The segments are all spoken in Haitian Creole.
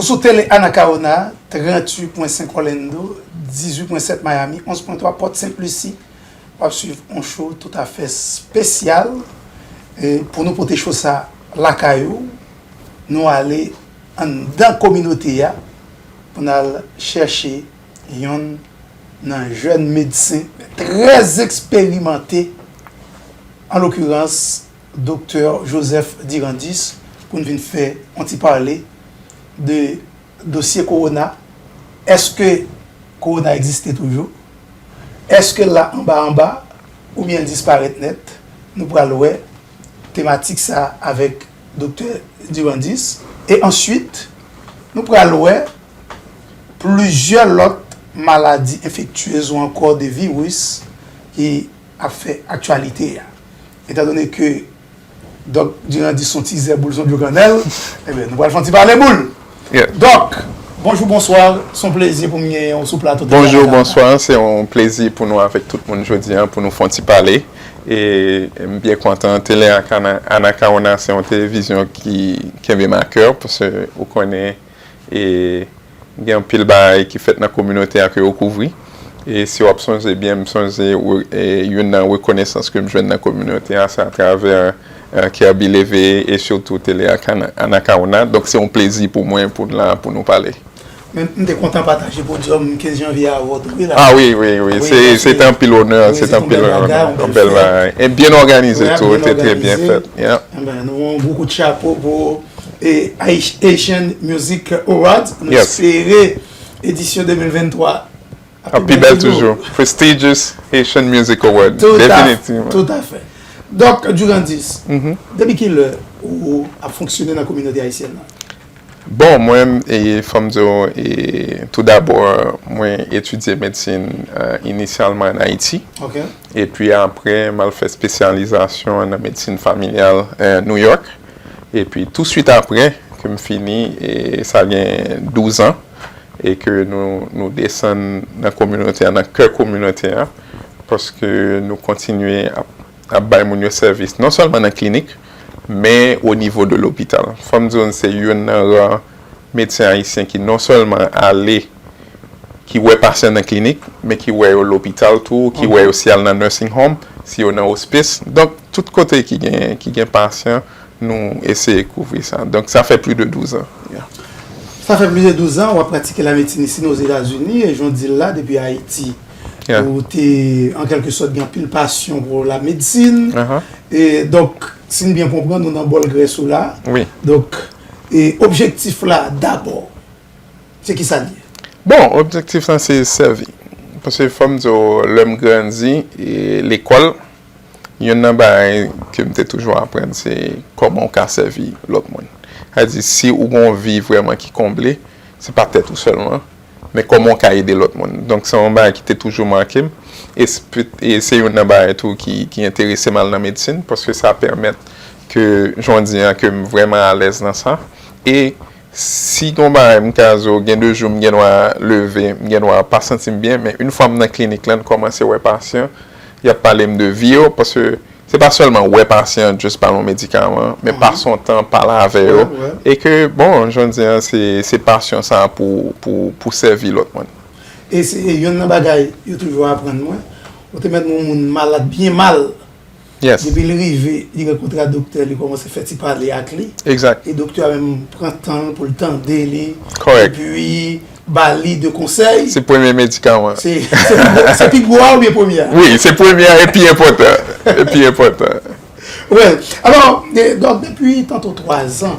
Ou sou Tele Anacaona, 38.5 Orlando, 18.7 Miami, 11.3 Port Saint Lucie. Wap swiv yon show tout a fè spesyal pou nou pote show sa lakay ou. Nou ale anndan kominote a pou nal chèche. Yon nan jèn medsen trè eksperimante, an lokirans Doktè Joseph Dirandus pou n vin fè yon ti pale de dosye kowona. Eske kowona egziste toujou? Eske l la anba anba oubyen l disparèt nèt? Nou pral wè tematik sa avèk Doktè Dirandus e answit nou pral wè Plizyè lòt maladi enfektyez ou ankò de viris ki ap fè aktyalite a. Etan done ke Dòk Dirandi son ti zè boul son dlo kanèl, enben nou pral fon ti pale boul. Dòk, bonjou bonswa, son plezi pou m genyen ou sou plato Delma Matin. Bonjou bonswa, se yon plezi pou nou avèk tout moun jodi a pou nou fon ti pale. E m byen kontan, Tele Anakawona se yon televizyon ki kenbe m a kè, pase ou konnen. e gen anpil bagay ki fèt nan kominote a ke yo kouvri. E si w ap sonje byen, m sonje youn nan rekonesans ke m jwenn nan kominote a, se atravè Kerby Levee e sitou Tele Anakawona. Donk se yon plezi pou mwen pou n la pou nou pale. Men m te kontan pataje podyòm 15 janvye a avè w tou wi la. A wi, wi, wi. Se te anpil onè, se te anpil onè. Se te yon bèl bagay. Yon bèl bagay. E byen òganize tou. Te byen òganize. Te byen fèt. Yep. Anben, nou voye yon gwo kout chapo pou. Haitian Music Awards, nou espere edisyon 2023 ap pi bèl toujou. Prestigious Haitian Music Awards, definitivman. Tout a fè. Donk, Durandis, depi ki lè ou ap fonksyone nan kominote Ayisyèn nan? Bon, mwen, fò m di w, tou dabò, mwen etidye medsin inisyalman an Ayiti. Ok. Epi apre, m al fè spesyalizasyon nan medsin familyal New York. Epi tou swit apre ke m fini, e sa gen 12 an, e ke nou desann nan kominote a, nan kè kominote a, paske nou kontinye ap bay moun yo sèvis, non sèlman nan klinik, men o nivo de lopital. Fò m di w, se youn nan ra medsen ayisyen ki non sèlman ale, ki wè pasyan nan klinik, men ki wè yo lopital tou, ki wè yo si y al nan nursing home, si yo nan ospis. Donk, tout kote ki gen, ki gen pasyan, nou eseye kouvri sa. Donk, sa fè plis de douzan. Sa fè plis de douzan w ap pratike lamedsin isin Ozetazini, e jan w di l la, depi Ayiti, ou te an kèlke sòt gen anpil pasyon pou lamedsin. E donk, si n byen konprann, ou nan bòl grès ou la. Donk. E objektif la dabò, se ki sa l ye? Bon, objektif lan se sèvi. Paske fò m di w, lè m grandi, lekòl, youn nan bagay ke m te toujou aprann se kòman ou ka sèvi lòt moun. Sa vle di si ou gen yon vi vrèman ki konble, se pa tèt ou sèlman. men kòman w ka ede lòt moun. Donk se yon bagay ki te toujou make m e se youn nan bagay tou ki enterese m al nan medsin paske sa pèmèt ke jondi an ke m vrèman alèz nan sa e si gen yon bagay m ka di w gen de jou m gen dwa leve m gen dwa pa santi m byen men yn fwa m nan klinik la m kòmanse wè pasyan y ap pale m de vi yo paske Se pa sèlman wè pasyan an just ba l yon medikaman, men pase yon tan, pale avè yo, e ke bon, jodi an se pasyon sa a pou sèvi lòt moun. E se yonn nan bagay yo toujou aprann mwen, ou te mèt yon moun malad byen mal, depi l rive, li rankontre ak doktè, li kòmanse fè ti pale ak li, e doktè a menm pran tan l pou l tande li, epi. ba li de konsèy. Se premye medikaman. Se pi gwo a oubyen premye a? Wi, se premye a e pi enpòtan. E pi enpòtan. Wè, alò, dòk depi tantou 3 zan,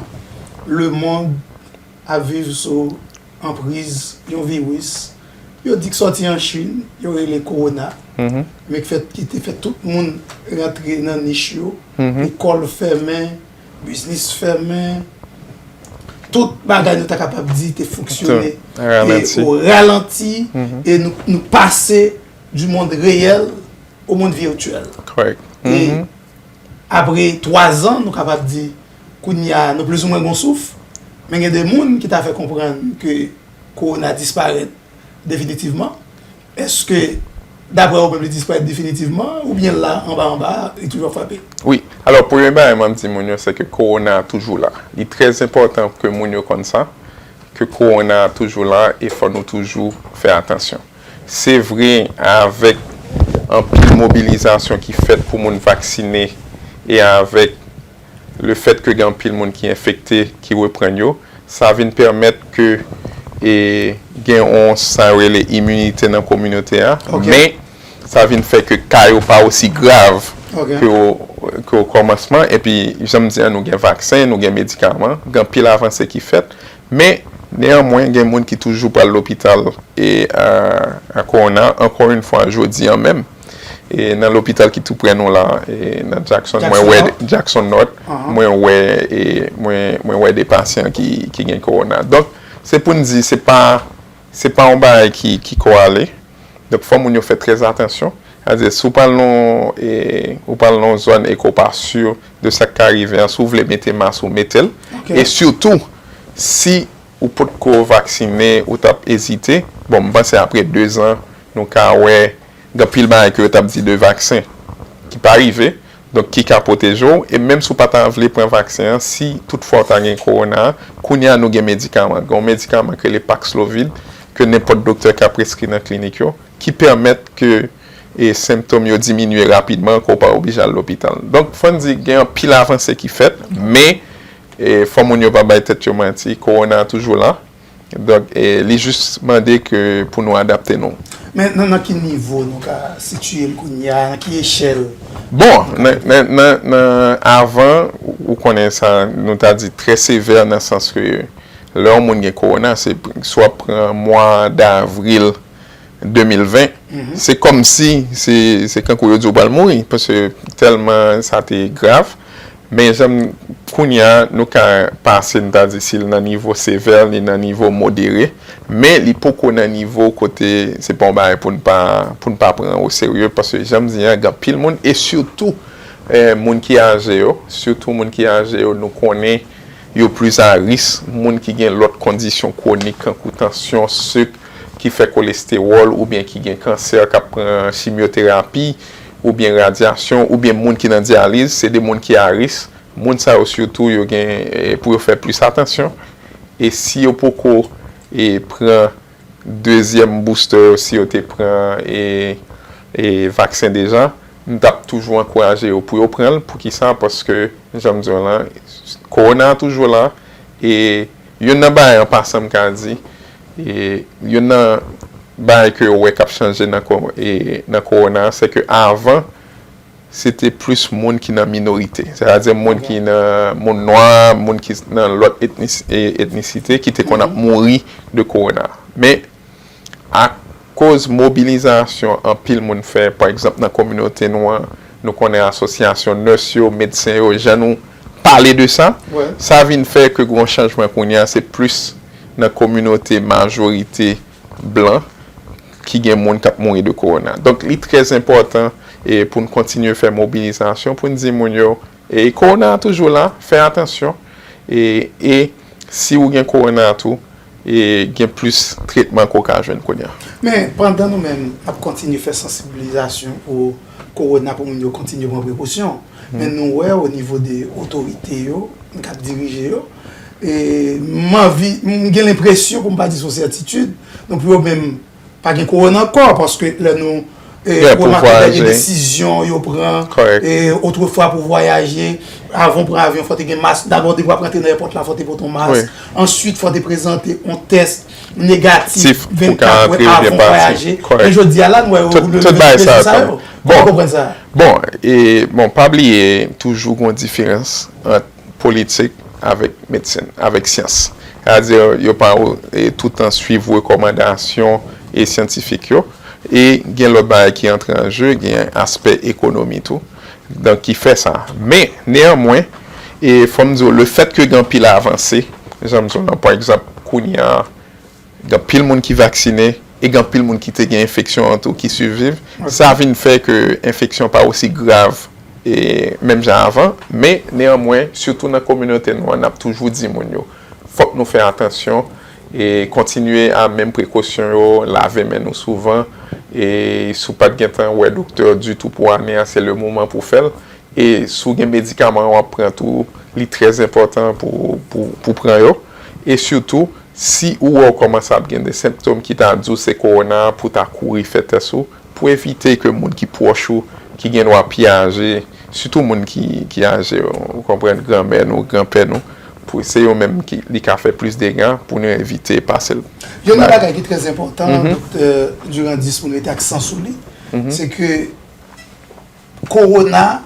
le mond ap viv sou anpriz yon viris, yo di k sòti an Chin, yo rele kowona, men ki te fè tout moun rantre nan nich yo, lekòl fèmen. Biznis fèmen, tout bagay nou ta kapab di te fonksyone o ralanti e nou pase di mond reyèl o mond virtyèl. E apre 3 zan nou kapab di kounye a nou plis ou mwen gon souf, men gen de moun ki ta fè konprann ke korona disparèt definitivman. Eske, daprè ou, pèp li disparèt definitivman oubyen la, anba anba a, li toujou ap frape? Wi. Alò, premye bagay mwen ap di moun yo, se ke kowona a toujou la. Li trè enpòtan pou ke moun yo konn sa, ke kowona a toujou la e fò nou toujou fè atansyon. Se vre, avèk anpil mobilizasyon ki fèt pou moun vaksinen e avèk. Le fèt ke gen anpil moun ki enfekte ki reprann yo, sa vin pèmèt ke gen yon sa yo rele iminite nan kominote a, men sa vin fè ke ka yo pa osi grav ke o kòmansman, epi jan m di an nou gen vaksen, nou gen medikaman, gen anpil avanse ki fèt, men neyanmwen gen moun ki toujou pral lopital a korona, ankò yon fwa jodi an menm. e nan lopital ki tou prè nou la e nan Jackson mwen wè Jackson North uh-huh. mwen wè e mwen mwen wè de pasyan ki ki gen corona donk se pou n di se pa se pa yon bagay ki ki ko ale donk fò moun yo fè trè atansyon a di sou pral non e ou pral non zòn e ko pa sur de sa ka rive an sou vle mete mas ou mete l e sitou si Ou potko vaksinen ou tap ezite? Bon m panse apre 2 zan nou ka wè gen anpil bagay ke yo tap di de vaksen ki pa rive donk ki ka pwoteje w e menm si w pa ta vle pran vaksen an si tout fwa w ta gen kowona a kounya nou gen medikaman gen yon medikaman ki rele pakslovid ke nenpòt doktè ka preskri nan klinik yo ki pèmèt ke e senptom yo diminye rapidman ke w pa oblije al lopital donk fò n di gen anpil avanse ki fèt men Fò moun yo pa bay tèt yo manti, Kowona a toujou la, donk li jis mande ke pou nou adapte nou. Men nan ki nivo nou ka sitiye n kounye a, nan ki echèl nou ka mete n? Bon, nan avan, ou konnen sa nou ta di trè sevè nan sans ke lè yon moun gen Kowona, se sou ap pran mwa davril, 2020, se kòmsi se kankou yo di ou pral mouri, paske tèlman sa te grav, men jan m, kounye a nou ka pase n ta di si l nan nivo sevè, li nan nivo modere, men li poko nan nivo kote se pa yon bagay pou n pa, pou n pa pran o serye, paske jan m di an gen anpil moun e sitou moun ki aje yo, sitou moun ki aje yo nou konnen yo plis a ris, moun ki gen lòt kondisyon kwonik kankou tansyon, suk, ki fè kolestewòl oubyen ki gen kansè kap pran chimyoterapi oubyen radyasyon oubyen moun ki nan dyaliz se de moun ki a ris moun sa yo sitou yo gen pou yo fè plis atansyon e si yo poko pran dezyèm boustè yo si yo te pran vaksen deja m tap toujou ankouraje yo pou yo pranl poukisa paske janm diw lan kowona a toujou la e. Youn nan bagay an pasan m ka di, youn nan bagay ke yo wè k ap chanje nan kowona a, se ke avan, se te plis moun ki nan minorite. Se ta di moun ki nan, moun nwa, moun ki nan lòt etnisite ki te konn ap mouri de kowona. Men. Akoz mobilizasyon anpil moun fè, pa egzanp nan kominote nou an, nou konnen asosyasyon nès yo, medsen yo, jan nou pale de sa, sa vin fè ke gen yon chanjman kounye a, se plis nan kominote majorite blan ki gen moun k ap mouri de kowona. Donk li trèzenpòtan pou n kontinye fè mobilizasyon pou n di moun yo, E corona a toujou la, fè atansyon, e e si ou gen corona a tou, e gen plis tretman ke w ka jwenn kounye a. Men, pandan nou menm ap kontinye fè sansibilizasyon pou corona pou moun yo kontinye pran prekosyon, men nou wè o nivo de otorite yo ki ap dirije yo, e m anvi, m gen lenpresyon pou m pa di son sètitid, nou pou yo menm. Pa gen korona ankò paske lè nou remake dènye desizyon yo pran otrefwa pou vwayaje avan ou pran avyon fò te gen mas dabò depi w ap rantre nan èpòt la fò te pote yon mas answit fò te prezante yon tès negatif 24 wè avan ou vwayaje men jodi a la nou wè yo leve tout mezi sa yo kòman ou konprann sa? Bon pa bliye toujou gen yon diferans ant politik avèk medsin, avèk syans. Sa vle di yo pa toutan swiv rekòmandasyon e syantifik yo. E gen lòt bagay ki antre an je, gen aspè ekonomi tou. Donk ki fè sa. Men, neyanmwen, e fò m di w, le fèt ke gen anpil avanse, jan m di w lan, pa egzanp, kounye a, Gen anpil moun ki vaksine e gen anpil moun ki te gen enfeksyon an tou ki siviv. Sa vin fè ke enfeksyon pa osi grav menm jan avan. Men, neyanmwen, sitou nan kominote nou an, n ap toujou di moun yo, fòk nou fè atansyon e kontinye a menm prekosyon yo, lave men nou souvan. E si w pa t gen tan wè doktè ditou pou ane a, se lemoman pou w fè l. E si w gen medikaman w ap pran tou, li trèzenpòtan pou w pran yo. E sitou. Si ou wè ou kòmanse ap gen de senptom ki ta di w se kowona a pou ta kouri fè tès ou pou evite ke moun ki pwòch ou ki gendwa pi aje sitou moun ki aje ou konprann granmè nou gran pè nou pou se yo menm ki li ka fè plis dega pou nou evite pase l Yon nan bagay ki trè enpòtan doktè Durandis pou n mete aksan sou li se ke. Kowona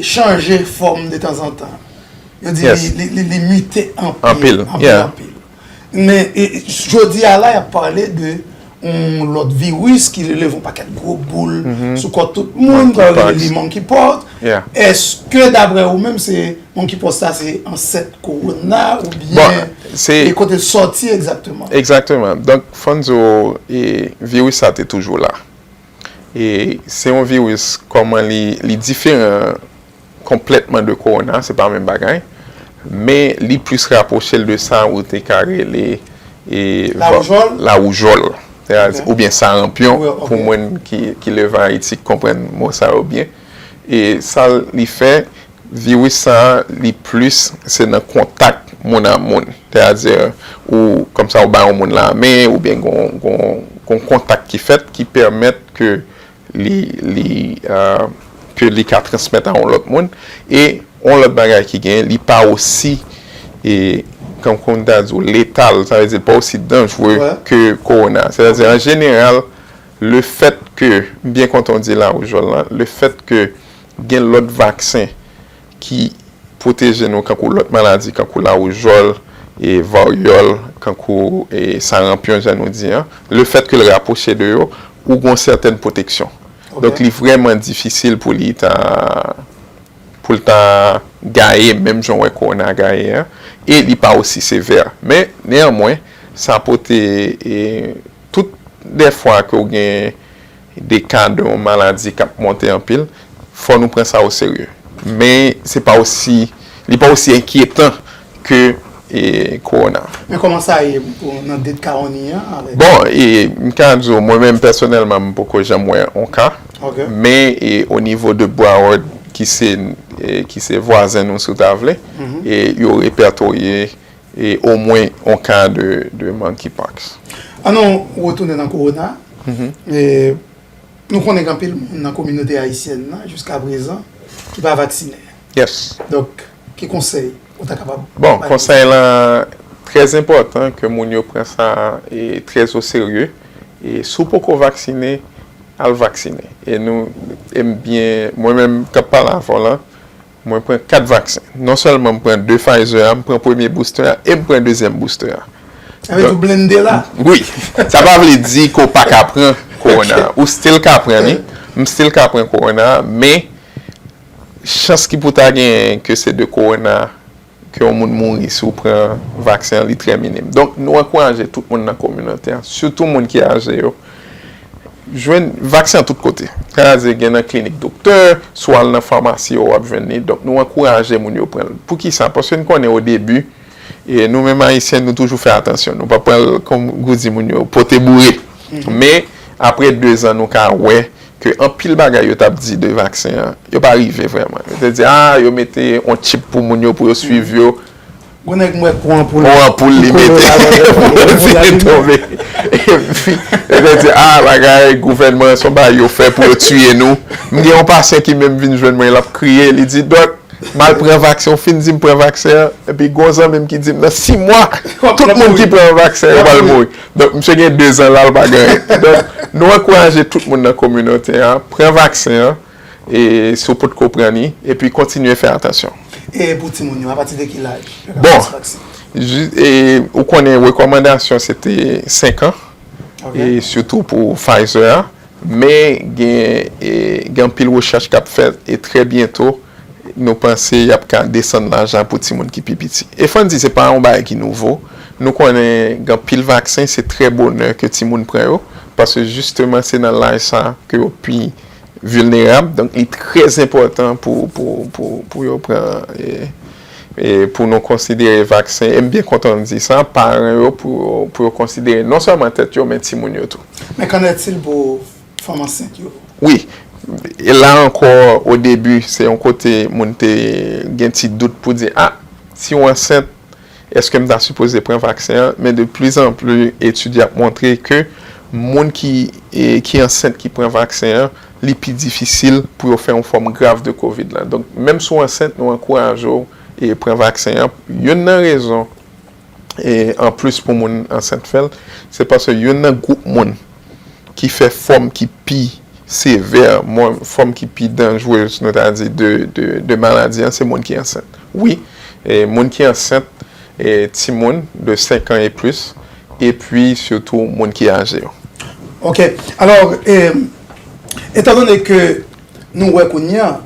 chanje fòm de tanzantan. Yo di li mite anpil, anpil, anpil. Men, jodi a la, y ap pale de yon lòt viris ki leve yon pakèt gwo boul sou kò tout moun, ki yo rele monkeypox. Eske, daprè ou menm, se monkeypox la se ansèt kowona oubyen se kote l sòti egzakteman? Egzakteman. Donk, fò n di w, viris sa te toujou la. E se yon virus koman li li diferan konplètman de korona, se pa menm bagay, men li plis rapwoche l de sa ou te ka rele e Lawoujòl? lawoujòl, oubyen saranpyon pou moun ki leve Ayiti ki konprann mo sa yo byen. E sa li fè, viris sa li plis se nan kontak moun a moun. Tè a di, ou kòm sa ou ba yon moun la men, ou byen gon kontak ki fèt ki pèmèt ke li ka transmèt a yon lòt moun. E yon lòt bagay ki gen, li pa osi, e kòm moun ta di ou, letal, sa vle di li pa osi danjre ke korona. Sè ta di, an jeneral, Le fèt ke, m byen kontan w di lawoujòl la, le fèt ke gen lòt vaksen ki pwoteje nou kankou lòt maladi, kankou lawoujòl, e varyòl, kankou e saranpyon jan nou di an, le fèt ke l rapwoche de yo, ou gen yon sètèn pwoteksyon. Donk li vrèman difisil pou li ta, pou l ta gaye menm jan w wè kowona a gaye a, e li pa osi sevè. Men, neyanmwen, sa pote e. Tout dè fwa ke ou gen de ka de yon maladi kap monte anpil, fò nou pran sa o serye. Men se pa osi, li pa osi enkyetan ke korona. Men kòman sa ye pou nan de ka ou ni an avèk. Bon, e m ka di w, mwen menm pèsonèlman m poko janm wè on ka. Ok. Men e o nivo de Broward ki se, ki se vwazen nou si w ta vle, e yo repètorye. E o mwen on ka de monkeypox. An nou retounen nan kowona. Nou konnen gen anpil moun nan kominote ayisyèn nan jiska prezan ki pa vaksinen. Yes. Donk ki konsèy ou ta kapab bay? Bon, konsèy la trè enpòtan ke moun yo pran sa trè o serye. E si w poko vaksinen, al vaksinen. E nou, e m byen, mwen menm k ap pale avè w lan. Mwen pran 4 vaksen. Non sèlman m pran 2 Pfizer a, m pran premye booster a e m pran dezyèm booster a. Sa vle di ou blende la? Wi. Sa pa vle di ke w pa ka pran Corona a. Ou still ka pran li. M still ka pran Corona a, men chans ki pou ta genyen ke se de Corona. ke yon moun mouri si w pran vaksen an li trè minim. Donk nou ankouraje tout moun nan kominote a, sitou moun ki aje yo, jwenn vaksen an tout kote. Kraze gen nan klinik doktè, si w al nan famasi yo w ap jwenn li. Donk nou ankouraje moun yo pran l. Pou ki sa? Paske n konnen o debi, nou menm Ayisyen nou toujou fè atansyon. Nou pa pran l kòm gou di moun yo pote boure. Men, apre dezan nou ka wè ke anpil bagay yo tap di de vaksen an, yo pa rive vrèman. Yo te di, a, yo mete yon chip pou moun yo pou yo swiv yo. Gwo nèg m wè kou anpoul. Kou anpoul li mete. Pou yo tonbe. Epi, yo te di, a, bagay gouvènman, son bagay yo fè pou yo tiye nou. M gen yon pasyan ki menm vin jwenn mwen, lap kriye, li di, dòk, m al pran vaksen, ou fin di m pran vaksen an, epi gwo zanmi m ki di m nan 6 mwa, tout moun ki pran vaksen yo pral mouri. Donk misye gen 2 zan la l pa gen anyen. Donk nou ankouraje tout moun nan kominote a pran vaksen an e si w potko pran ni epi kontinye fè atansyon. E pou timoun yo, apati de ki laj yo ka pran ti vaksen? Bon, ou konnen rekòmandasyon se te 5 an e sitou pou Pfizer a men gen anpil rechèch k ap fèt e trè byento. Nou panse y ap ka desann lajan pou timoun ki pi piti. E fò n di se pa yon bagay ki nouvo. Nou konnen gen anpil vaksen se trè bonè ke timoun pran yo, paske jisteman se nan laj sa a ke yo pi vilnerab. Donk li trè enpòtan pou yo pran, pou nou konsidere vaksen. E m byen kontan w di sa, paran yo pou yo konsidere non sèlman tèt yo men timoun yo tou. Men kanètil pou fanm ansent yo. Wi, e la ankò o debi se yon kote moun te gen ti dout pou di a, si w ansent eske m ta sipoze pran vaksen an, men de pli zan pli etid ap montre ke moun ki ansent ki pran vaksen an li pi difisil pou yo fè yon fòm grav de kovid la. Donk menm si w ansent nou ankouraje w pran vaksen an, youn nan rezon. anplis pou moun ansent fè l, se paske youn nan gwoup moun ki fè fòm ki pi sevè, fòm ki pi danjrez nou ta di de maladi an se moun ki ansent. Wi, moun ki ansent, timoun de 5 an e plis, epi sitou moun ki aje yo. Ok, alò, etan done ke nou wè kounye an,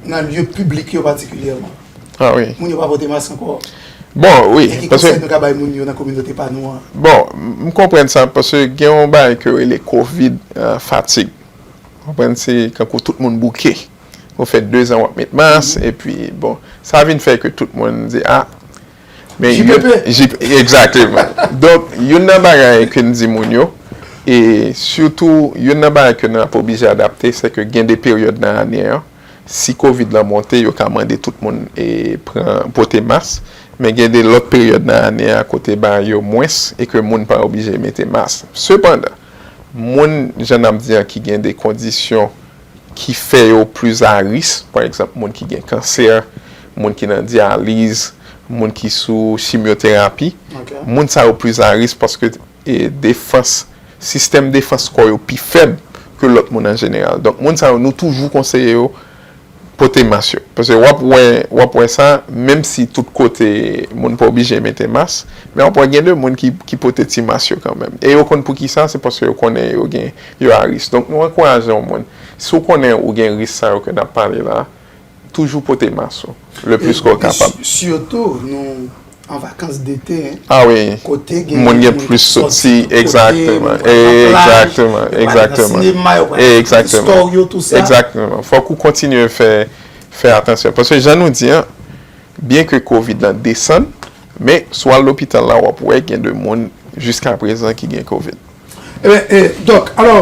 Nan lye piblik yo patikilyèman. Ah wi. Moun yo pa pote mask ankò. Bon wi. Ki konsèy nou ka bay moun yo nan kominote pa nou an? Bon, m konprann sa paske gen yon bagay ke yo rele covid fatig. Ou konprann? Se kankou tout moun bouke. Ou fè dezan w ap met mask epi bon, sa vin fè ke tout moun di a. JPP. Exactement. Donk, youn nan bagay ke n di moun yo, e sitou youn nan bagay ke nou ap oblije adapte, se ke gen de peryòd nan ane an, si Covid lan monte, yo ka mande tout moun e pran, pote mas, men gen de lòt peryòd nan ane a kote ba yo mwens e ke moun pa oblije mete mas. Sepandan, moun, jan n ap di an, ki gen de kondisyon ki fè yo plis a ris, pa egzanp moun ki gen kansè, moun ki nan dyaliz, moun ki sou chimyoterapi, moun sa yo plis a ris paske defans, sistèm defans kò yo pi fèb ke lòt moun an jeneral. Donk moun sa yo nou toujou konseye yo pote mas yo. Paske w ap wè, w ap wè sa, menm si tout kote moun pa oblije mete mas, men w ap wè gen de moun ki pote ti mas yo kanmenm. E yo konn poukisa, se paske yo konnen yo gen. Yo a ris. Donk nou ankouraje yon moun, si w konnen ou gen ris sa yo ke n ap pale la, toujou pote mas ou le plis ke w kapab. E sitou nou an vakans dete, kote gen moun ki soti sou kote, moun pral nan plaj, yo pral ale nan sinema, yo pral ale nan restoran, yo tou sa. Egzakteman. Fòk ou kontinye fè atansyon. Paske jan nou di an, byen ke kovid lan desann, men si w al lopital la w ap wè gen de moun jiskaprezan ki gen kovid. Ebyen e dòk alò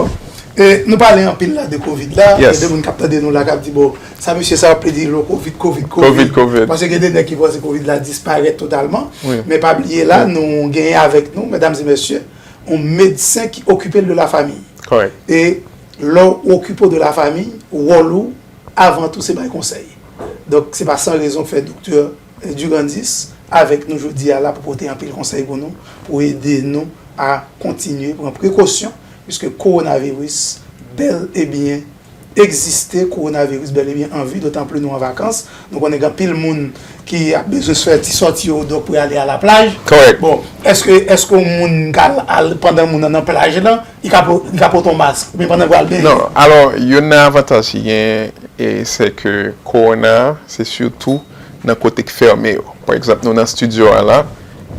e nou pale anpil la de kovid la gen de moun kap tande nou la kap di bon sa mesye sa yo ap ple di lo kovid kovid kovid pase gen de nèg ki panse kovid la disparèt totalman men pa bliye la nou genyen avèk nou medam e mesye on medsen ki okipe l de la famiy kòrèk e lò ou okipe ou de la famiy wòl ou avan tou se bay konsèy dòk se pa san rezon fè doktè Durandis avèk nou jodi a la pou pote anpil konsèy pou nou pou ede nou a kontinye pran prekosyon piske kowonaviris bèl e byen egziste, kowonaviris bèl e byen an vi dotanpli nou an vakans nou konnen gen anpil moun ki ap bezwen fè ti sòti yo donk pou y ale a la plaj bon èske èske yon moun ka al pandan moun nan nan plaj lan li ka li ka pote yon mask oubyen pandan l pral benyen. Non, alò youn nan avantaj ki genyen e se ke kowona se sitou. nan kote k fèmen yo. Pa egzanp nou nan stidyo a la,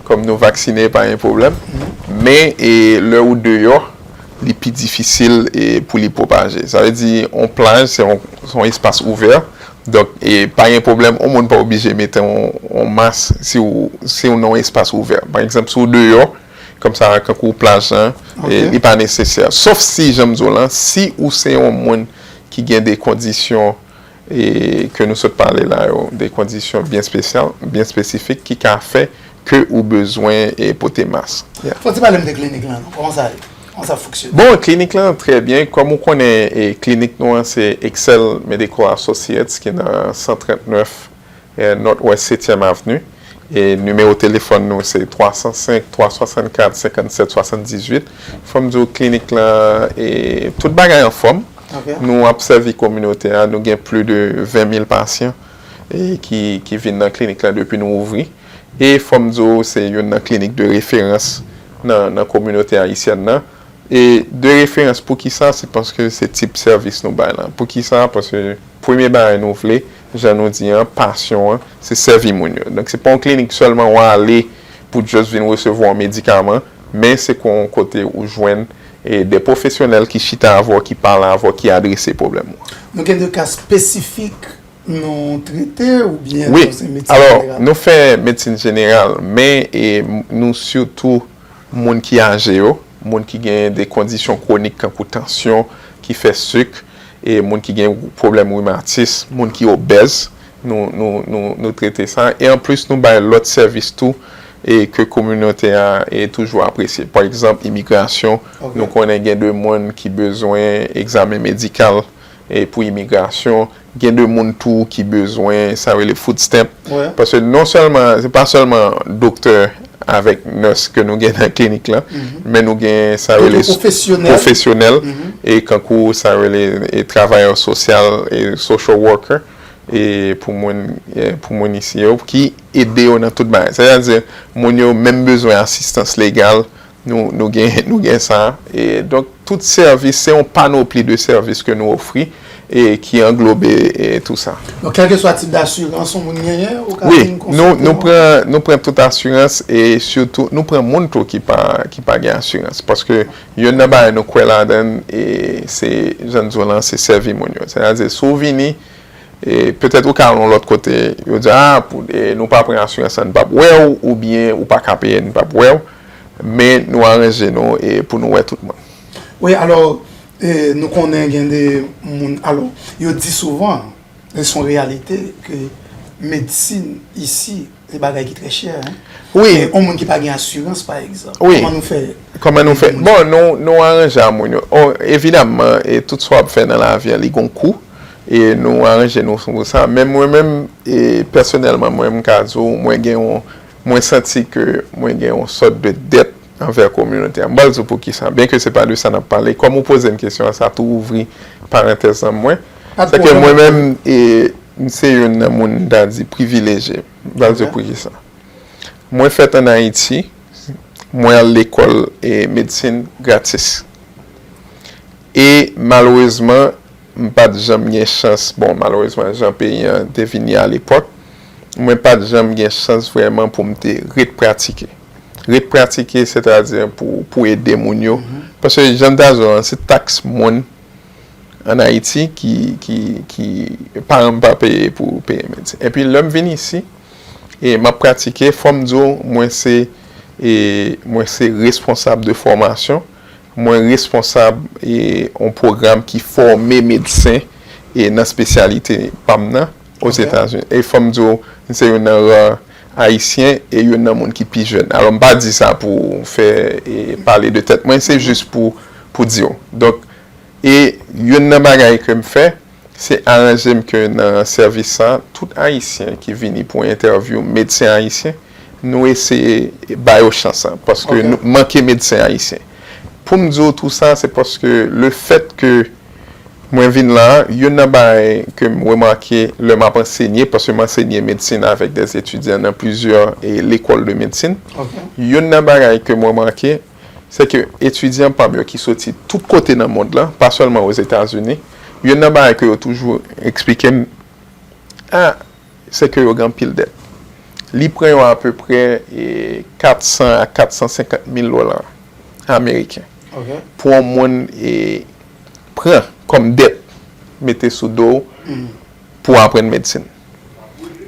kòm nou vaksinen pa gen pwoblèm, men lè ou deyò, li pi difisil pou li pwopaje. Sa vle di yon plaj se yon espas ouvè, donk pa gen pwoblèm, yon moun pa oblije mete yon mas si w nan yon espas ouvè. Pa egzanp si w deyò, kòm sa tankou plaj la, li pa nesesè. Sof si, jan m di w lan, si ou se yon moun ki gen de kondisyon. ke nou sot pale la yo, de kondisyon byen spesyal, byen spesifik ki ka fè ke ou bezwen pote mask. Fòk ti pale m de klinik lan non, kòman sa ye? Kòman sa fonksyone? Bon, klinik lan trè byen, kòm ou konnen klinik nou an se Excel Medical Associates ki nan 139 Nòtwès Setyèm Avni, e nimewo telefòn nou se 305 364 57 78. Fò m di w klinik la, e tout bagay anfòm. Nou ap sèvi kominote a, nou gen pli de 20 mil pasyan ki vin nan klinik la depi nou ouvri. E fò m di w se youn nan klinik de referans nan kominote ayisyèn nan. E de referans poukisa se paske se tip sèvis nou bay la. Poukisa paske premye bagay nou vle jan nou di an pasyon an se sèvi moun yo. Donk se pa yon klinik sèlman ou ale pou just vin resevwa yon medikaman men se kon yon kote ou jwenn de pwofesyonèl ki chita avè w ki pale avè w ki adrese pwoblèm ou an. Nou gen de ka spesifik nou trete oubyen nou se medsin jeneral? Wi, alò nou fè medsin jeneral men nou sitou. Moun ki aje yo, moun ki gen de kondisyon kwonik tankou tansyon ki fè suk, e moun ki gen pwoblèm rimatis, moun ki obèz, nou trete sa. E anplis nou bay lòt sèvis tou e ke kominote a toujou apresye. Pa egzanp, imigrasyon, nou konnen gen de moun ki bezwen egzamen medikal e pou imigrasyon. Gen de moun tou ki bezwen sa yo rele food stamp. Paske non sèlman, se pa sèlman doktè avèk nès ke nou gen nan klinik la, men nou gen sa yo rele pwofesyonèl, e kankou sa yo rele e travayè sosyal, e social worker, e pou moun, pou moun isi yo, ki ede yo nan tout bagay. Sètadi, moun yo menm bezwen asistans legal, Nou gen sa. Donk, tout sèvis, se yon panopli de sèvis ke nou ofri e ki anglobe tout sa. Donk, kèlkeswa tip d'asirans yon moun genyen, ou ka vin konsilte ou? Wi, nou pran tout asirans e sitou nou pran moun tou ki pa gen asirans. Paske youn nan bagay nou kwè ladann, se jan n di w lan, se sèvi moun yo. Sètadi, si w vini, petèt ou ka al yon lòt kote, yo di a, nou pa pran asirans an, n pa p wè w, oubyen ou pa ka peye, n pa p wè w. Men nou aranje nou e pou nou wè tout moun. Wi alò nou konnen gen de moun alò yo di souvan e son reyalite ke medsin isi se bagay ki trè chè hein yon moun ki pa gen asirans pa egzanp kòman nou fè kòman nou fè bon nou aranje a moun yo evidamman e tout sa wap fè nan lavi an li gon kou e nou aranje nou pou sa men mwen menm pèsonèlman mwen mka di w mwen gen yon Mwen santi ke mwen gen yon sòt de dèt anvè kominote a. M pral di w poukisa, byen ke se pa de sa n ap pale. Kòm ou poze m kesyon an, sa tou ouvri parantèz nan mwen. Se ke mwen menm, m se youn nan moun m ta di privilejye. M pral di w poukisa. Mwen fèt ann Ayiti, mwen al lekòl medsin gratis. E malerezman, M pa t janm gen chans, bon malerezman jan peyi an te vin ye alepòk, mwen pa t janm gen chans vrèman pou m te ret pratike. Ret pratike sètadi pou pou ede moun yo. Paske jan m ta di w lan se taks moun an Ayiti ki ki ki paran m pa peye pou peye medsen. Epi lè m vin isi e m ap pratike fò m di w mwen se e mwen se responsab de fòmasyon. Mwen responsab yon pwogram ki fòme medsen nan spesyalite pa m nan Ozetazini. E fò m di w, m se youn nan ra Ayisyen e youn nan moun ki pi jèn. Alò m pa di sa pou fè pale de tèt mwen, se jis pou di w. Donk, e youn nan bagay ke m fè, se aranje m ke nan sèvis sa, tout Ayisyen ki vini pou entèvyou, medsen Ayisyen, Nou eseye ba yo chans la, paske nou manke medsen ayisyen. Pou m di w tou sa, se paske le fèt ke mwen vin la, youn nan bagay ke m remake lè m ap ansenye, paske m ansenye medsin avèk dè etidyan nan plizyè lekòl de medsin, youn nan bagay ke m remake, se ke etidyan pa m yo ki soti tout kote nan mond la, pa sèlman Ozetazini, youn nan bagay ke yo toujou eksplike m, a, Se ke yo gen anpil dèt. Li pran yo apeprè 400 a 450 mil dola ameriken pou yon moun pran kòm dèt mete sou do ou pou w aprann medsin.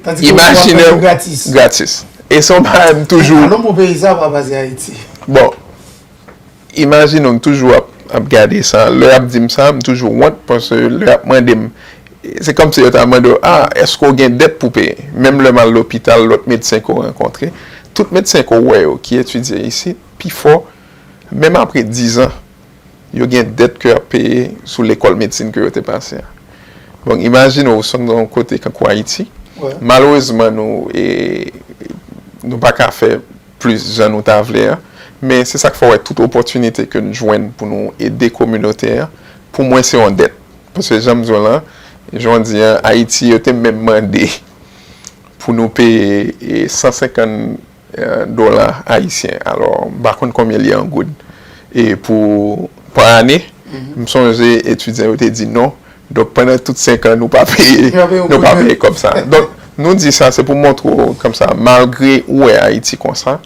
Tandike ou kapab aprann yo gratis. Gratis. E se yon bagay m toujou. Alon pou peyi sa pa baze Ayiti. Bon. Imajine w m toujou ap gade sa, lè y ap di m sa, m toujou wont paske lè y ap mande m, se kòmsi yo ta mande w, a, èske w gen dèt pou peye? Menm lè m al lopital, lòt medsen ke w rankontre, tout medsen ke w wè yo ki etidye isit, pifò, menm apre dizan, yo gen dèt ke y ap peye sou lekòl medsin ke yo te pase a. Donk, imajine w sot nan yon kote tankou Ayiti, malerezman nou, nou pa ka fè. plis jan nou ta vle an, men se sa k fè w wè tout opòtinite ke n jwenn pou nou ede kominote an, pou mwen se yon dèt. Paske jan m di w lan, jondi an, Ayiti yo te menm mande pou nou peye 150 dola ayisyen, alò m pa konn konbyen li an goud, e pou pa ane, m sonje etidyan yo te di non, Donk pandan tout 5 an nou pa peye, nou pa peye kòb sa. Donk nou di sa se pou montre w kòm sa malgre ou wè Ayiti kon sa,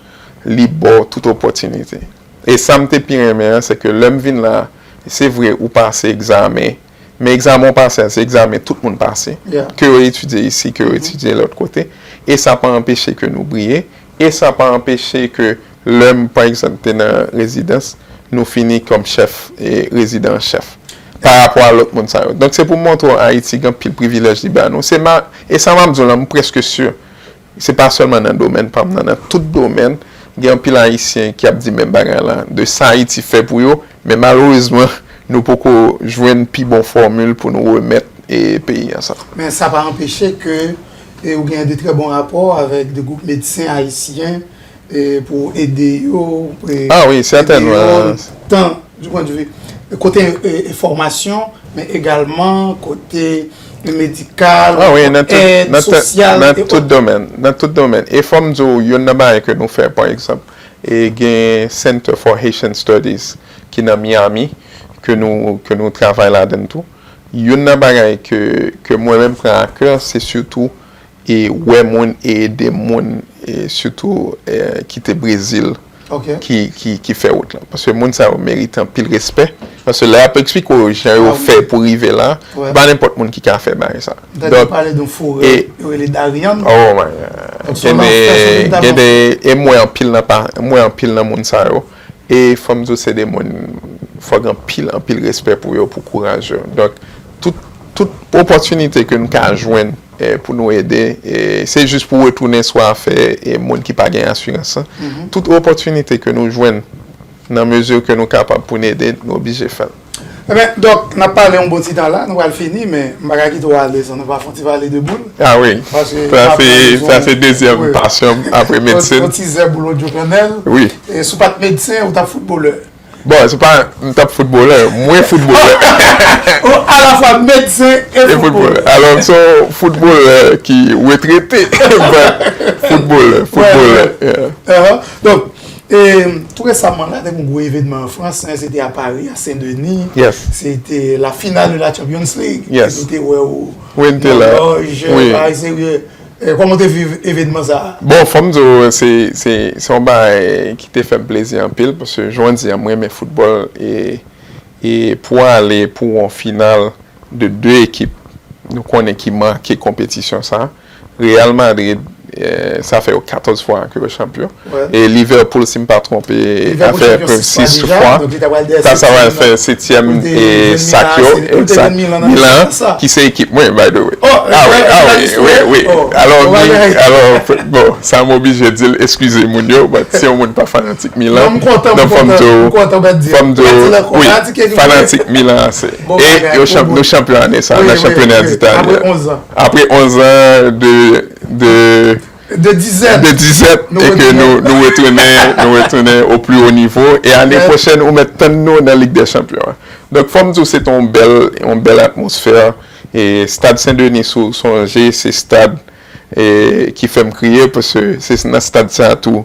li ba w tout opòtinite. E sa m te pi renmen an se ke lè m vin la, se vre ou pase egzamen, men egzamen w pase a se egzamen tout moun pase, ke yo etidye isi, ke yo etidye lòt kote, e sa pa anpeche ke nou briye, e sa pa anpeche ke. Lè m, pa egzanp, te nan rezidans, nou fini kòm chèf, rezidan an chèf, pa rapò a lòt moun sa yo. Donk se pou montre w Ayiti gen anpil privilèj li ba nou. Se ma, e sa m ap di w la, m prèske si, se pa sèlman nan domèn pa m nan, nan tout domèn, gen anpil Ayisyen ki ap di menm bagay la, de sa Ayiti fè pou yo, men malerezman, nou poko jwenn pi bon fòmil pou nou remèt peyi a sa. Men sa pa anpeche ke ou gen de trè bon rapò avèk de gwoup medsen ayisyen. Pou ede yo, pou ede yo tan du pwen di vi kote enfomasyon men egalman kote medikal, kote ed, sosyal. Nan tout domen, nan tout domen. E fom di w, yon nan bagay ke nou fè, pa egzanp, e gen Center for Haitian Studies ki nan Miami, ke nou, ke nou travay ladan tou. Yon nan bagay ke mwen menm pran a kè, se sitou e wè moun e ede moun e sitou ki te brezil ki fè wout lan paske moun sa yo merite anpil respè paske lè yap eksplike yo jan yo fè pou rive la se pa nenpòt moun ki ka fè bagay sa yo pale de yon forè yo rele darien gen de e mwen anpil nan moun sa yo E fom di w se 2 moun fok anpil anpil respè pou yo pou kouraj yo. Donk tout tout opotinite ke n ka jwenn pou nou ede se jis pou retounen sou afè moun ki pa gen asirans lan. Tout opotinite ke nou jwenn nan mezi ke nou kapab pou n ede nou oblije fè l. Ebyen, dòk, n ap pale yon bon ti tan la, nou pral fini, men m pa ka kite w ale san nou pa fè yon ti pale de boul. A wi, sa se dezyèm pasyon m apre medsen. Yon ti zè boul Odjo Kanèl. Wi. Si w pa t medsen, ou t ap foutbolè. Bon, se pa m t ap foutbolè, mwen foutbolè. Ou alafwa medsen e foutbolè. Alò, m se yon foutbolè ki retrete, but foutbolè, foutbolè. Donk, E tou resamman la te gen yon gwo evenman an Frans, se te a Paris, a Saint Denis, se te la finale de la Champions League, e nou te wè ou nan lòj, bagay serye. Kòman ou te viv evenman sa a? Bon, fò m di w, se yon bagay ki te fè m plezi anpil, paske jan w di an, m renmen foutbòl, e pou w ale pou yon final de 2 ekip nou konnen ki manke konpetisyon sa a, Real Madrid, sa fè yo 14 fwa ke yo chanpyon. E Liverpool, si m pa twonpe, ta fè prèv 6 fwa. Sa sa va fè 7 tièm e sak yo. Milan, ki se ekip mwen, by the way. Oh, oui, oui. Alors, bon, sa m oblije di l, eskize moun yo, but si yon moun pa fanatik Milan. Non, m kontan, m kontan. M kontan ou bèt di. Fòm di yo, oui, fanatik Milan ase. E yo chanpyon ane sa, nan chanpyonè di Italie. Apre 11 ans. Apre onz an de. De dizèt. De dizèt e ke nou retounen, nou retounen o pli o nivo e ane pwochèn ou mèt tann nou nan Lig dè Chanpyon an. Donk fò m di w se te yon bèl, yon bèl atmosfè e stad Sendenis ou sonje se stad ki fè m kriye paske se nan stad sa tou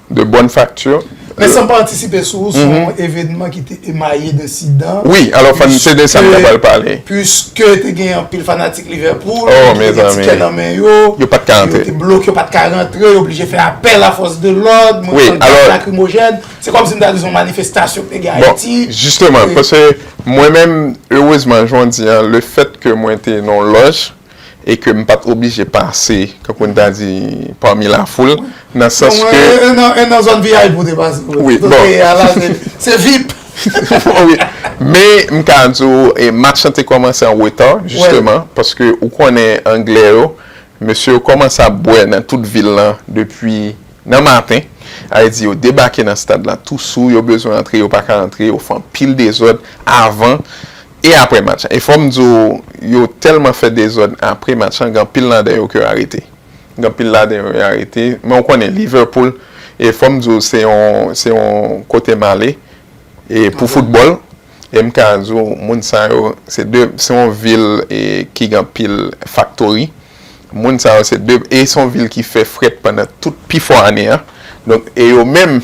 De bonne facture. Men san pa antisipe sou ou, son evenman ki te emaye densidan. Wi, alò fani, se de sa m ta pral pale. Piske te gen anpil fanatik Liverpool, ki te gen tikè nan men yo, yo pat ka rantre, yo te bloke, yo pat ka rantre, yo oblije fè apèl a fòs de lòd, mwen tande gaz lakrimojèn, se kòm si m ta di son manifestasyon ki te gen Ayiti. Bon, jisteman, pase mwen menm, erezman, jwen di an, le fèt ke mwen te nan yon lòj. e ke m pa t oblije pase, tankou n ta di, pami lafoul, nan sans ke. Donk, e nan zòn vip ou te pase? Wi, bon. Kote a la, se vip! Wi. Men, m ka di w, match lan te kòmanse an reta, jisteman, paske ou konnen angle yo, mesye yo kòmanse ap bwè nan tout vil lan depi nan maten. A vle di, yo debake nan stad lan tou sou, yo bezwen antre, yo pa ka antre, yo fè anpil dezòd avan E aprè match lan? E fò m di w yo tèlman fè dezòd apre match lan gen anpil ladan yo ke yo arete. Gen anpil ladan yo yo arete. Men w konnen Liverpool e fò m di w se yon se yon kote m ale e pou foutbòl e m ka di w moun sa yo se de se yon vil e ki gen anpil faktori. Moun sa yo se de e se yon vil ki fè frèt pandan tout pi fò ane a. Donk e yo menm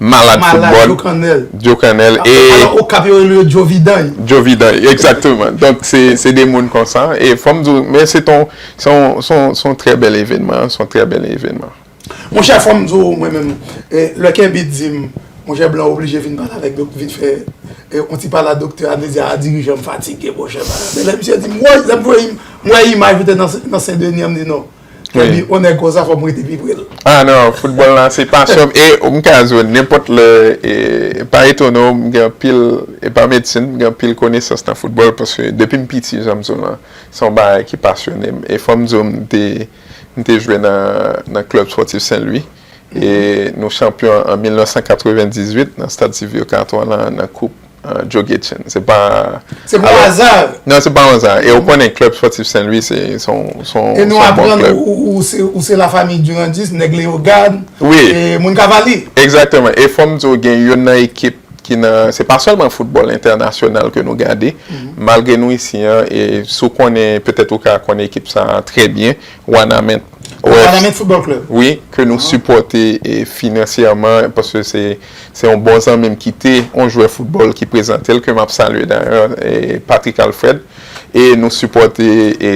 Malad foutbòl. Djokannèl. Djokannèl e. Alò Okap yo rele yo Djovidanj. Djovidanj, ekzakteman. Donk se de moun konsa. E fò m di w, men se ton, se yon trè bèl evenman, se yon trè bèl evenman. Monchè fò m di w mwen menm, lè Kenbi di m, monchè Blan ou oblije vin pale avèk doktè, vin fè yon ti pale ak doktè a, m te di a dirijan m fatige monchè. Men lè misye di m, woy, lè m voye, m wè imaj li te nan Sen Deni an, m di non. Epi on nèg konsa fòm rete pi prel. Ah non, football lan se pasyonm e m ka di w nenpòt lè e pa etone w m gen anpil e pa medsin m gen anpil konesans nan football paske depi m piti jan m di w lan se yon bagay ki pasyone m e fò m di w m te m te jwe nan nan club sportif Saint Louis. E nou chanpyon an 1998 nan stad Sylvio Caton lan nan koup Joe Guetjen. Se pa. Se pa yon aza. Non, se pa yon aza. E ou konnen klèb spòtif Sen Lwi se son bon klèb. Son bon klèb. E nou aprann ou se la famiy Durandis, nèg Leyogàn. Wi. E moun Kavali. Egzakteman. E fò m di ou gen youn nan ekip ki nan. Se pa sèlman foutbòl entènasyonal ke nou gade. Malgre nou isi an e si ou konnen petèt ou ka konnen ekip sa trè byen. Wanament Football Club. Wi, ke nou sipòte finansyèman, paske se yon bon zanmi m ki te yon jwè foutbòl ki prezante l, ke m ap salye dayè, Patrick Alfred, e nou sipòte,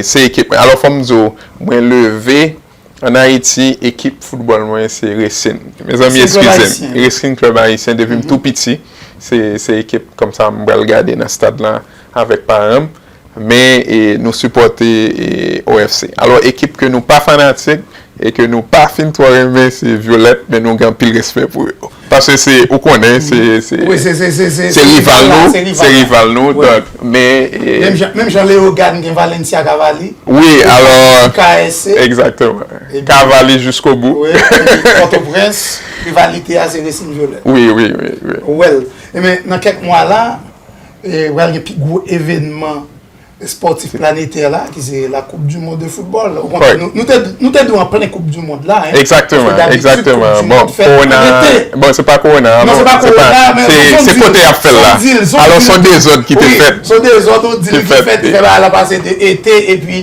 se ekip mwen. Alò, fò m di w, mwen leve an Ayiti, ekip foutbòl mwen se Resin. Mezanmi eskize m. Resin Club Haïtien. Depi m tou piti, se ekip kòm sa m pral gade nan stad la avèk paran m. Men nou sipòte OFC. Alò ekip ke nou pa fanatik e ke nou pa fin twò renmen se Violette men nou gen anpil respè pou yo. Pase se ou konnen se rival nou, se rival nou donk men. Menm jan Leogane gen Valencia Cavalli. Wi alò. KSC. Egzakteman. Cavalli jiskobou. Wi. Pòtoprens rivalite a se Racing Violette. Wi wi wi. Ou wèl. Enben nan kèk mwa la. e pral gen pi gwo evènman espòtif planetè la ki se la koup di mond de foutbòl nou te dwe an plen koup di mond la egzakteman bon kowona bon se pa kowona se kote yap fèl la alò son dezòd ki te fèt son dezòd ou di ki fèt fèba la pase de ete epi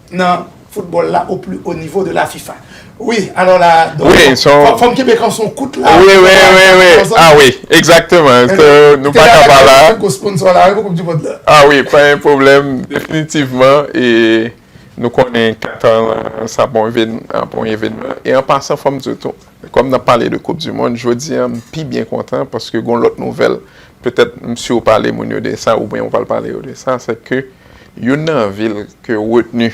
nan football la au plus haut niveau de la fifa wi alors la fom kenbe kanson kout la wi wi wi wi ah wi exactement so nou pa ka pa la ah wi pa yon problem definitivement e nou konnen katan sa bon evenman e an pasan fom di tou kom nap pale de koup du monde jodi an m pi byen kontan paske gon lot nouvel petet m si w pale moun yo de sa ou byen ou pral pale yo de sa se ke Youn nan vil ke yo retni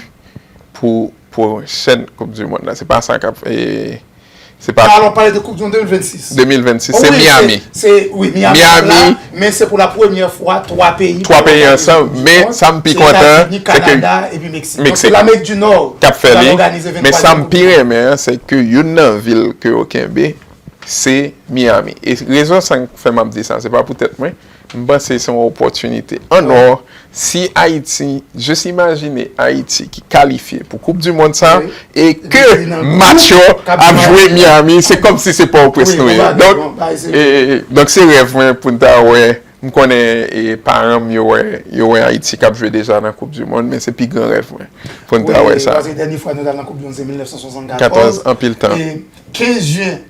pou pwochèn koup di mond la. Se pa sa kap se pa. Alon pale de koup di mond 2026. 2026 se Miami. Se wi Miami kap la men se pou la premyè fwa 3 peyi. 3 peyi ansanm men sam pi kontan se ke. Se Etazini, Kanada epi Meksik. Meksik. Se Lamerik di Nò. Kap fè li. Kap òganize 23 di mond. Men sam pi renmen an se ke youn nan vil ke yo kenbe se Miami. E rezon sa fè map di sa se pa pou tèt mwen. M panse se yon opòtinite an nò si Ayiti, jis imajine Ayiti ki kalifye pou koup di mond sa e ke match yo ap jwe Miami se kòm si se Pòtoprens nou ye donk se rèv mwen pou n ta wè m konnen paran m yo wè yo wè Ayiti k ap jwe deja nan koup di mond men se pi gran rèv mwen pou n ta wè sa. Wi paske dènye fwa nou t al nan koup di mond se 1974 anpil tan. 15 jen.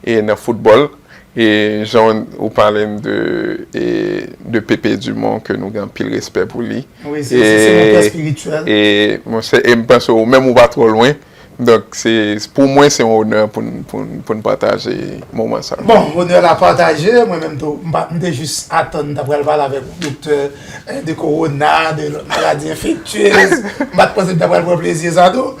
E nan football e jan ou palem de e de Pepe Dumont ke nou gen anpil respè pou li Wi se se yon pè spirituel. E monchè e m panse ou menm ou pa twò lwen donk se pou mwen se yon onè pou n pou n pou n pataje moman sa. Bon onè la pataje mwen menm tou m pa m te jis atann m ta pral pale avèk ou doktè de kowona de lòt maladi enfektiyez m pat panse m ta pral pran plezi sa tou.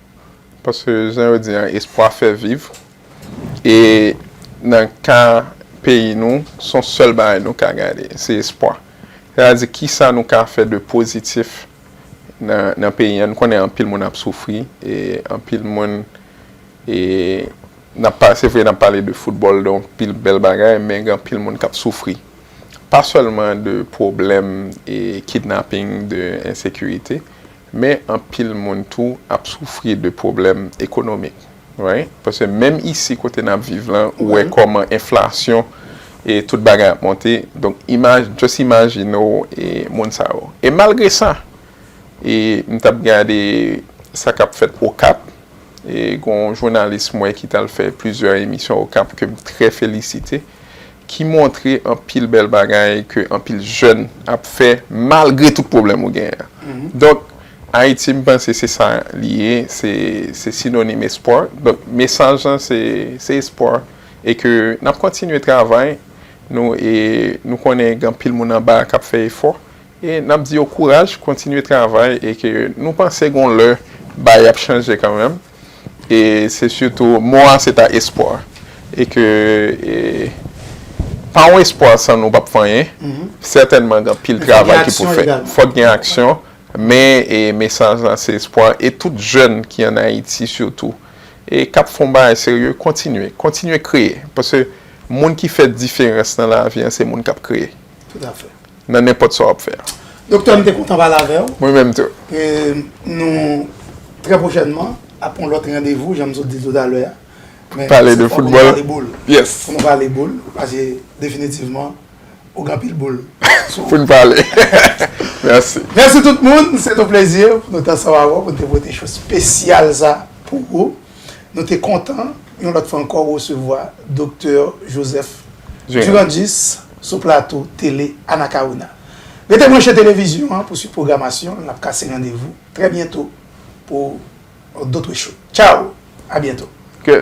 Paske jan yo di an, espwa fè viv. E nan ka peyi nou, se yon sèl bagay nou ka gade, se espwa. Sa vle di ki sa nou ka fè de pozitif nan peyi an. Nou konnen anpil moun ap soufri, e anpil moun, e nan pa, se vre nan pale de foutbòl, de anpil bèl bagay, men gen anpil moun k ap soufri. Pa sèlman de pwoblèm e kidnaping, de ensekirite. Men anpil moun tou ap soufri de pwoblèm ekonomik wi paske menm isi kote nap viv lan ou wè kòman enflasyon e tout bagay ap monte donk imaj just imajine w moun sa yo e malgre sa e m tap gade sa kap fèt okap e gon jounalis m wè ki tal fè plizyè emisyon okap ke m trè felisite ki montre anpil bèl bagay ke anpil jèn ap fè malgre tout pwoblèm ou genyen an. Donk, Ayiti m panse se sa li ye, se sinonim espwa. Donk, mesaj lan se espwa e ke n ap kontinye travay nou e nou konnen gen anpil moun anba k ap fè efò e n ap di yo kouraj, kontinye travay e ke nou panse gon lè bagay ap chanje kanmenm. E se sitou, mo a se ta espwa. E ke, e, pa yon espwa san nou pap fè anyen. Sètènman gen anpil travay ki pou fèt. Fòk gen aksyon. Men, e, mesaj la se espwa. E tout jèn ki an Ayiti sitou, e kap fè yon bagay serye, kontinye. Kontinye kreye. Pase moun ki fè diferans nan lavi an, se moun kap kreye. Tout a fè. Nan nenpòt sa w ap fè a. Doktè m te kontan pale avè w. Mwen menm tou. E nou trè pwochènman ap pran lòt randevou jan m sot di l tout a lè a. Men pale de foutbòl. Pou nou pale boul. Yes. Pou nou pale boul. Pase definitivman ou gen anpil boul sou ou. Pou nou pale. Mèsi. Mèsi tout moun. Se te yon plezi pou nou te ansanm avè w pou nou te pote cho spesyal sa pou ou. Nou te kontan yon lòt fwa ankò resevwa Doktè Joseph Durandus sou plato tele Anakawona. Rete branche televizyon an pou suit pwogramasyon, n ap kase randevou trè byento pou dotre show. Tchaw! A byento! Ke.